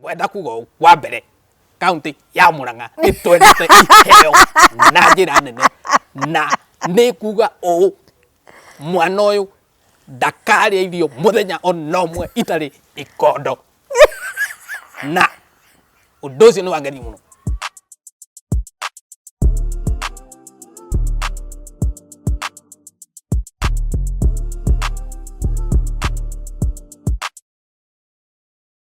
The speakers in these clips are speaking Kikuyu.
wenda kuga ũũ, wa mbere kaunti ya mũrang'a ĩtwendete iheo na njĩra nene na nĩ kuga ũũ mwana ũyũ ndakarĩa irio mũthenya ona ũmwe itarĩ ikondo na ũndũ ũcio nĩ wangeni mũno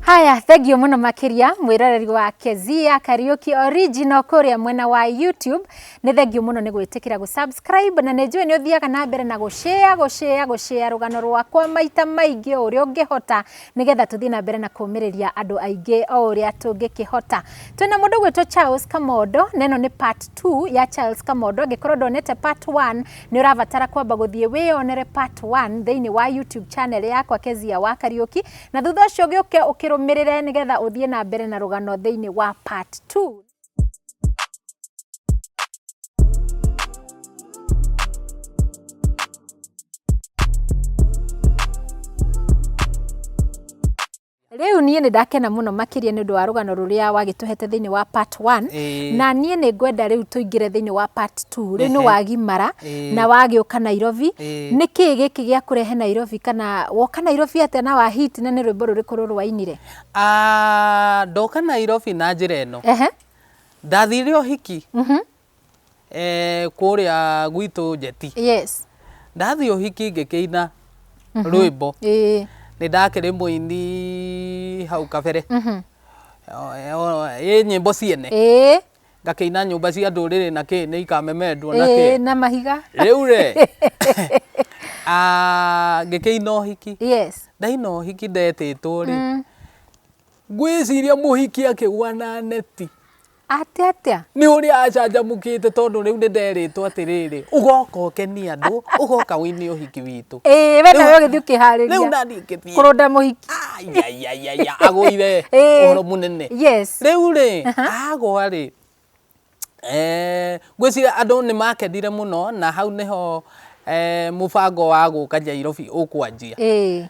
Haya, thengio muno makiria mwiroreri wa Kezia Kariuki Original kuria mwena wa YouTube. Ni thengio muno ni gwitikira gu subscribe na ni njui ni uthiaga na mbere na gu share gu share gu share rugano rwakwa maita maingi uria ungihota nigetha tuthie na mbere na kumiriria andu aingi o uria tungikihota. Twina mundu gwitwa Charles Kamodo, neno ni part 2 ya Charles Kamodo angikorwo ndonete part 1 Nĩ ũrabatara kwamba gũthiĩ wĩyonere part 1 thĩinĩ wa YouTube channel yakwa Kezia wa Kariũki na thutha ũcio gĩũke ũkĩrũmĩrĩre nĩgetha ũthiĩ na mbere na rũgano thĩinĩ wa part 2. Rĩu niĩ nĩ ndakena mũno makĩria nĩ ũndũ wa rũgano rũrĩa wagĩtũhete thĩinĩ wa part one. Ĩĩ. Na niĩ nĩ ngwenda rĩu tũingĩre thĩinĩ wa part two. Rĩu nĩ Ehe. wagimara Ĩĩ. na wagĩũka Nairobi. Ĩĩ. Nĩ kĩĩ gĩkĩ gĩakũrehe Nairobi kana woka Nairobi atĩa na wa hit na nĩ rwĩmbo rũrĩkũ rũrũ wainire? Ah, ndoka nairobi na njĩra ĩno Ehe. ndathire ũhiki eh, kũrĩa gwitũ njeti yes ndathiĩ ũhiki ngĩkĩina rwĩmbo ĩĩ nĩ ndakĩrĩ mũini hau kabere Mhm. Eh, o- ĩ nyĩmbo ciene ĩĩ ngakĩina nyũmba cia ndũrĩrĩ na kĩ nĩ ikamemendwo na ĩĩ kĩ na mahiga rĩu rĩ ah, ngĩkĩina ũhiki yes ndaina ũhiki ndetĩtwo rĩ Mm. ngwĩciria mũhiki akĩgwa na neti Atĩ atĩa? Nĩ ũrĩa acanjamũkĩte tondũ rĩu nĩ nderĩtwo atĩrĩrĩ, ũgoka ũkenie andũ, ũgoka wĩne ũhiki witũ. Ĩĩ, we nawe ũgĩthiĩ ũkĩharĩria. Rĩu nani ngĩthiĩ. Kũrũnda mũhiki. Ayayayaya, agũire ũhoro mũnene. Yes. Rĩu rĩ, agwa rĩ, eh, ngwĩciria andũ nĩ makenire mũno na hau nĩho eh, mũbango wa gũka Nyairobi ũkwanjia. Ĩĩ.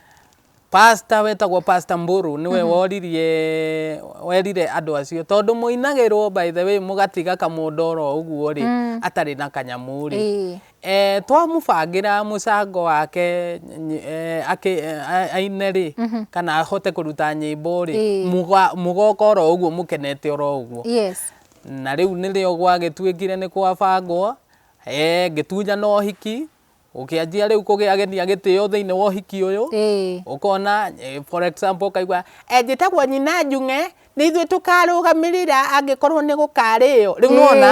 Pastor wetagwo Pastor Mburu niwe mm -hmm. woririe werire andu acio tondu muinagirwo by the way mugatiga kamundu oro uguo ri mm. atari na kanyamu ri e. e, twamubangira mucango wake e, ake e, aine ri mm -hmm. kana ahote kuruta nyimbo ri e. mugoka oro uguo mukenete oro uguo yes na riu nirio gwagituikire ni kwabangwo e, ngitunya no hiki Ũkĩanjia rĩu kũgĩagĩthia gĩtĩo thĩinĩ wa ũhiki ũyũ, Ĩĩ. ũkona eh, for example ũkaigua "Eh, njĩtagwo nyina njung'e nĩ ithuĩ tũkarũgamĩrĩra angĩkorwo nĩ gũkarĩo rĩu Ĩĩ. nĩwona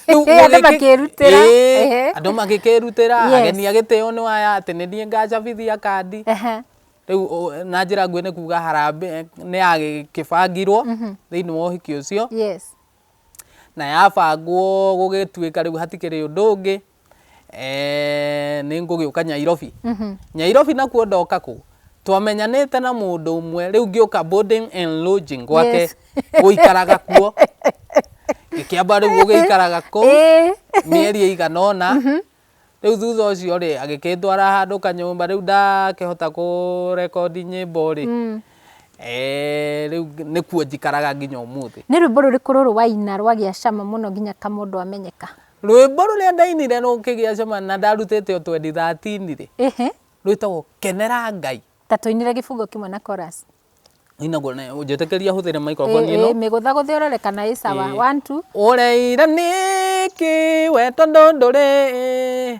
rĩu Ĩĩ, andũ ũgĩkĩ- makĩĩrutĩra. Ĩĩ, Ehe. andũ magĩkĩrutĩra Yes. ageni a gĩtĩo nĩ aya atĩ nĩ niĩ ngacabithia kandi Ehe. rĩu ũ- na njĩra nguhĩ nĩ kuga harambĩ nĩ yagĩbangirwo thĩinĩ wa ũhiki ũcio Yes. na yabangwo gũgĩtuĩka rĩu hatikĩrĩ ũndũ ũngĩ eh, nä ngå gä å ka nyairobi mhm. nyairobi nakuo ndoka kå twamenyanĩte na mũndũ ũmwe rĩu ngĩũka boarding and lodging gwake gũikaraga kuo gĩkĩamba rĩu gũgĩikaraga kũu mĩeri ĩigana ũna mhm. rĩu thutha ũcio rĩ agĩkĩndwara handũ kanyũmba rĩu ndakĩhota kũrekondi nyĩmbo rĩ mm. eh, rĩu nĩkuo njikaraga nginya ũmũthĩ nĩ rwĩmbo rũrĩkũ rũrũ waina rwagĩa cama mũno nginya kamũndũ amenyeka Rwĩmbo rũrĩa ndainire rũkĩgĩa cama na ndarutĩte o 2013 rĩ, Ehe, rwĩtagwo kenera Ngai. ta tũinire gĩbungo kĩmwe na chorus. Inagwo na ũnjĩtĩkĩria hũthĩre Ĩ, microphone ĩ, ĩno. mĩgũtha gũthĩ ũrore kana ĩ sawa. Ĩ. One, two. Ũreira nĩkĩ we tondũ ndũrĩ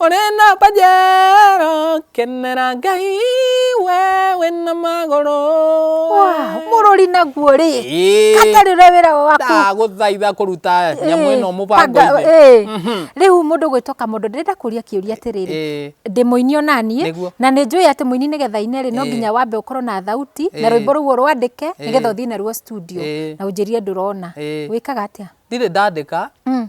Ũrĩ na mbanjero kenera Ngai we wĩna magũrũ. Mũrũri naguo rĩ. Katarĩ ũrĩa wĩra waku. Ndagũthaitha kũruta nyamũ ĩno mũbango mhm. Rĩu mũndũ gwĩtwo kamũndũ ndĩrenda kũria kĩũria atĩrĩrĩ. Ndĩ mũini ona niĩ na nĩ njũĩ atĩ mũini nĩgetha ine rĩ no nginya wambe ũkorwo na thauti na rwĩmbo rũu ũrwandĩke nĩgetha ũthiĩ naruo studio na ũnjĩrie ndũrona. Wĩkaga atĩa? Ndirĩ ndandĩka mm.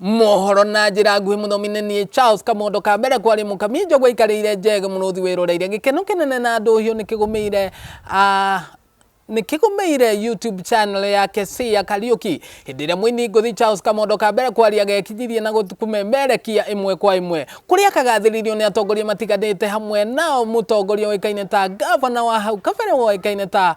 Mohoro na njĩra nguhĩ mũthomi nĩ niĩ Charles Kamondo ka mbere kwarĩ mũkami njogwa ikarĩire njege mũrũthi wĩroreire gĩkeno kĩnene na ndũhiũ nĩ kĩgũmĩire ah, nĩ kĩgũmĩire YouTube channel ya Kesii ya Kariuki hĩndĩ ĩrĩa mũini ngũthi Charles Kamondo ka mbere kwarĩ agekinyirie na gũkũmemerekia ĩmwe kwa ĩmwe kũrĩa akagathĩrĩirio nĩ atongoria matiganĩte hamwe nao mũtongoria ũĩkaine ta Gavana wa hau kabere woĩkaine ta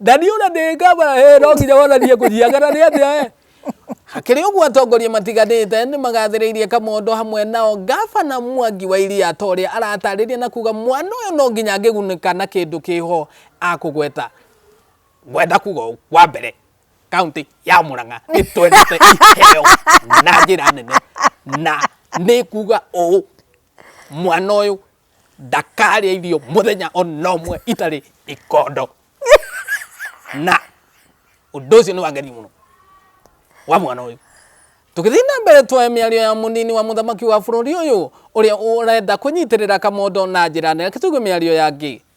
Na nĩ ũra ndĩ ngaba eh, no nginya wonanie kũnyiaga na nĩ atĩa eh? Hakĩrĩ ũguo atongoria matiganĩte nĩ magathĩrĩirie Kamondo hamwe nao ngabana Mwangi wa Iria ta ũrĩa aratarĩria na kuga mwana ũyũ no nginya angĩgunĩka na kĩndũ kĩho akũgweta gwenda kuga ũũ, wa mbere kaunti ya Mũrang'a nĩ twendete iheo na njĩra nene na nĩ kuga ũũ mwana ũyũ ndakarĩa irio mũthenya ona ũmwe itarĩ ikondo na ũndũ ũcio nĩ wangeni mũno wa mwana ũyũ tũgĩthiĩ na mbere tuoe mĩario ya mũnini wa mũthamaki wa bũrũri ũyũ ũrĩa ũrenda kũnyitĩrĩra kamondo na njĩra nene tũigue mĩario ya ngĩ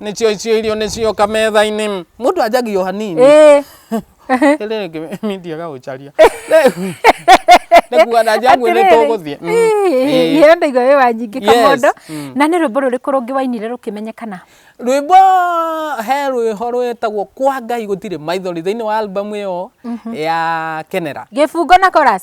nĩcio icio irio nĩcioka metha-inĩ mũndũ anjagio hanini Eh. rĩrĩ ngĩmithia gaũcaria Rĩu, nĩ kuga na njangu nĩ Atĩrĩrĩ. tũgũthiĩ Mm. Ĩĩ. Ĩĩ, ndaiga wĩ wa nyingĩ Yes. kamondo Mm. na nĩ rwĩmbo rũrĩkũ rũngĩ wainire rũkĩmenyekana rwĩmbo he rwĩho rwĩtagwo kwa ngai gũtirĩ maithori thĩinĩ wa albamu ĩyo ya kenera gĩbungo na chorus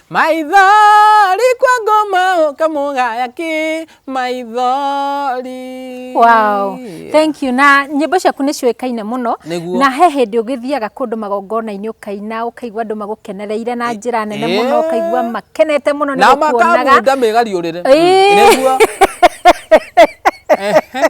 Maithori kwa ngoma ũkamũgaya kĩ maithori. Wow. Thank you. Na nyĩmbo ciaku nĩ ciũĩkaine mũno. Nĩguo. Na he hĩndĩ ũgĩthiaga kũndũ magongona-inĩ ũkaina ũkaigua andũ magũkenereire na njĩra nene Ĩ- mũno ĩ. ũkaigua makenete mũno nĩ Na gũkuonaga. makamunda megariũrĩre. Ĩ. Nĩguo. Ehe.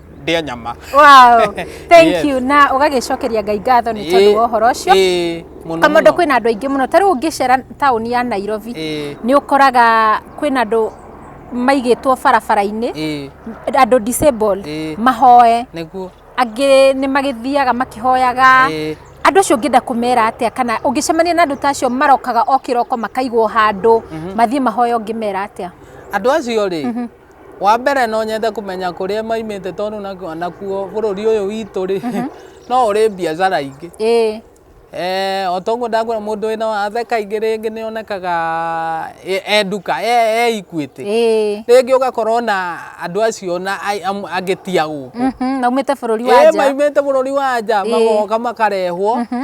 ndĩa nyama wow thank Yes. you na ũgagĩcokeria ngai ngatho nĩ tondũ wa ũhoro ũcio Ĩĩ, mũno kamondo mũno. kwĩna andũ aingĩ mũno ta rĩu ũngĩcera taũni ya nairobi Ĩĩ, nĩ ũkoraga kwĩna andũ maigĩtwo barabara-inĩ ĩĩ, andũ disabled Ĩĩ. mahoe nĩguo angĩ nĩ magĩthiaga makĩhoyaga Ĩĩ. andũ acio ũngĩenda kũmera atĩa kana ũngĩcemania na andũ ta acio marokaga o kĩroko makaigwo handũ mathiĩ mahoya ũngĩmera atĩa andå acio rä Wa mbere no nyende kũmenya kũrĩa maimĩte tondũ nakuo bũrũri ũyũ witũ rĩ mhm. no ũrĩ biacara ingĩ Eh, o toguo ndakwĩra mũndũ wĩna wathe kaingĩ rĩngĩ nĩ onekaga e nduka e ikuĩte rĩngĩ ũgakorwo na andũ acio na angĩ ti agũkũ mhm, maumĩte bũrũri wa nja maumĩte bũrũri wa nja magoka makarehwo mhm.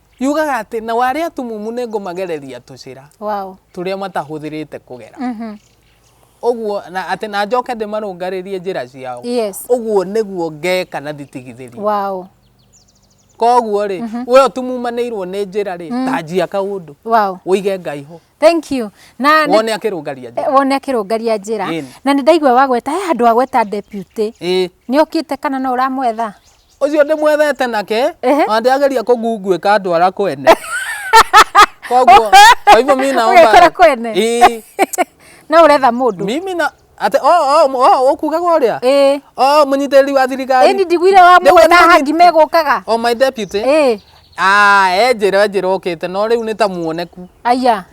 yugaga atĩ na warĩa atumumu nĩ ngũmagereria tũcĩra wow. tũrĩa matahũthĩrĩte kũgera mm -hmm. ũguo na atĩ na njoke ndĩmarũngarĩrie njĩra ciao yes. ũguo nĩguo ngeka na thitigithĩri wow. koguo rĩ mm -hmm. we ũtumumanĩirwo nĩ njĩra rĩ mm. tanjia kaũndũ wow. ũige ngai ho thank you na wone akirungaria njira eh, wone akirungaria njira na ni ndaigwa wagweta he andu agweta deputy ni okite kana no uramwetha ucio ndimwethete nake Ehe. na ndiageria kũngunguĩka ndwara kwene koguo kwa hivyo mi naomba Ũgekora kwene. Ii, no uretha mundu mimi na ate o o o ukugaga uria eh o munyitĩrĩri wa thirikari ĩni ndigwire wa Nĩwe mwe na nĩwe hangi megũkaga o my deputy eh ah enjĩra enjĩra okĩte no rĩu nĩ ta muoneku aya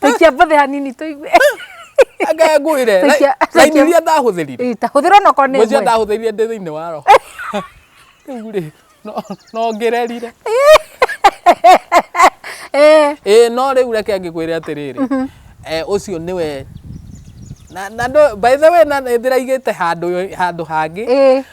taikia mbothe hanini tũigue anga ngwire Taikia- laini taikia- iria ndahũthĩrire Ĩ, ta hũthĩra onokorwo nĩ mwĩcia ĩmwe ndahũthĩrire ndĩ thĩinĩ wa roho rĩu rĩ no- no ngererire Eh, ĩĩ no rĩu reke ngĩkwĩre atĩrĩrĩ eh, ũcio nĩwe na na ndũ- by the way na ndĩraigĩte handũ handũ hangĩ ĩ,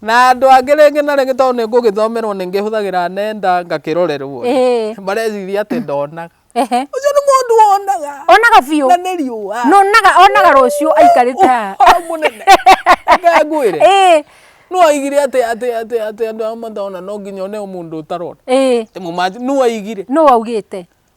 Na andũ angĩ rĩngĩ na rĩngĩ tondũ nĩ ngũgĩthomerwo nĩ ngĩhũthagĩra nenda ngakĩrorerwo Ĩĩ. mareciria atĩ ndonaga Ehe. ũcio nĩ mũndũ wonaga Onaga biũ. na nĩ riũa Na onaga onaga rũciũ aikarĩte haha. ũhoro mũnene reke ngwĩre Ĩĩ. nũ oigire atĩ atĩ atĩ atĩ andũ arĩa matona no nginya one mũndũ ũtarona Ĩĩ. Nĩ mũmanji nũ oigire Nũ waugĩte?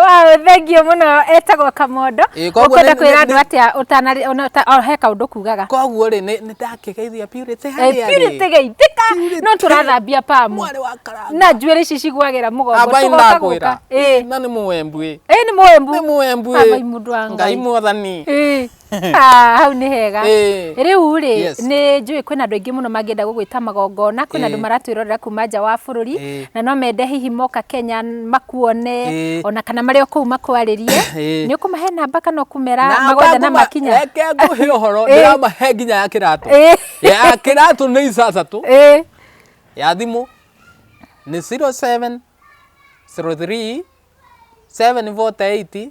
Wow, thengio mũno etagwo Kamondo. Ĩĩ, koguo Ũkwenda nĩ- kwĩra nĩ- andũ nĩ- atĩa ũtanarĩ ona ũta- o he kaũndũ kugaga. koguo rĩ nĩ nĩ ndakĩgeithia purity Eh, harĩa Purity rĩ geithĩka Purity. no tũrathambia pamu mwarĩ wa karanga na njuĩrĩ ici cigwagĩra mũgongo abai tũgoka gũka. ndakwĩra Ĩĩ. na nĩ mũwembu ĩ Ĩĩ, nĩ mũwembu. nĩ mũwembu Abai mũndũ wa ĩ ngai Ngai. mwathani Ĩĩ. Ah, hau nĩ hega Eh. rĩu rĩ Yes. nĩ njũĩ kwĩna andũ aingĩ mũno mangĩenda gũgwĩta magongona kwĩna andũ Eh. maratwĩrorera kuma nja wa bũrũri Eh. na no mende hihi moka kenya makuone Eh. ona kana marĩ o kũu makwarĩrie Eh. nĩ ũkũmahe namba kana ũkũmera Namba magwethe na ngũma- makinya reke ngũhe ũhoro Eh. ndĩramahe nginya ya kĩratũ Eh. ya kĩratũ nĩ ithathatũ Ĩ, ya thimũ nĩ 07 03 748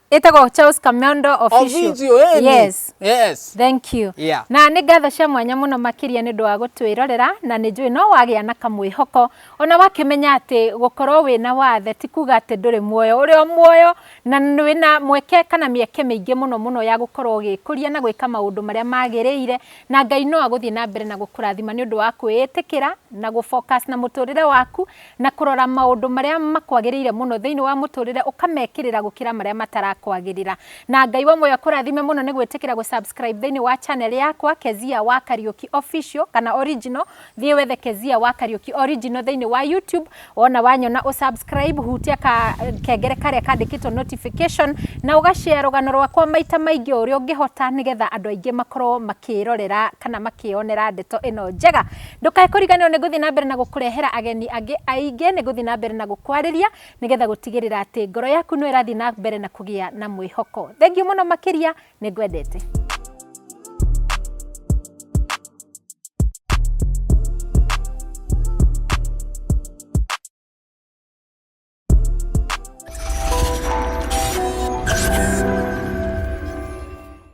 ĩtagwo Charles Kamiondo official. Official, eh, ni. Yes. Yes. Thank you. Yeah. Na nĩ ngatho cia mwanya mũno makĩria nĩ ũndũ wa gũtwĩrorera na nĩ njũĩ no wagĩa na kamwĩhoko ona wakĩmenya atĩ gũkorwo wĩna wathe ti kuga atĩ ndũrĩ muoyo ũrĩ o muoyo na nĩ wĩna mweke kana mĩeke mĩingĩ mũno mũno ya gũkorwo ũgĩkũria na gwĩka maũndũ marĩa magĩrĩire na Ngai no agũthiĩ na mbere na gũkũrathima nĩ ũndũ wa kwĩĩtĩkĩra na gũ focus na mũtũrĩre waku na kũrora maũndũ marĩa makwagĩrĩire mũno thĩinĩ wa mũtũrĩre ũkamekĩrĩra gũkĩra marĩa matarakwagĩrĩra. Na Ngai wa muoyo akũrathime mũno nĩ gwĩtĩkĩra gũ subscribe thĩinĩ wa channel yakwa Kezia wa Kariuki official kana original. Thiĩ wethe Kezia wa Kariuki original thĩinĩ wa YouTube. Wona wanyona ũ subscribe hutia ka kengere karĩa kandĩkĩtwo notification na ũga share rũgano rwakwa maita maingĩ o ũrĩa ũngĩhota nĩgetha andũ aingĩ makorwo makĩrorera kana makĩyonera ndeto ĩno njega. Ndũkae kũriganĩrwo nĩ ngũthiĩ na mbere na gũkũrehera ageni angĩ aingĩ, nĩ ngũthiĩ na mbere na gũkwarĩria nĩ getha gũtigĩrĩra atĩ ngoro yaku no ĩrathiĩ na mbere na kũgĩa na mwĩhoko. Thengiũ mũno makĩria, nĩ ngwendete.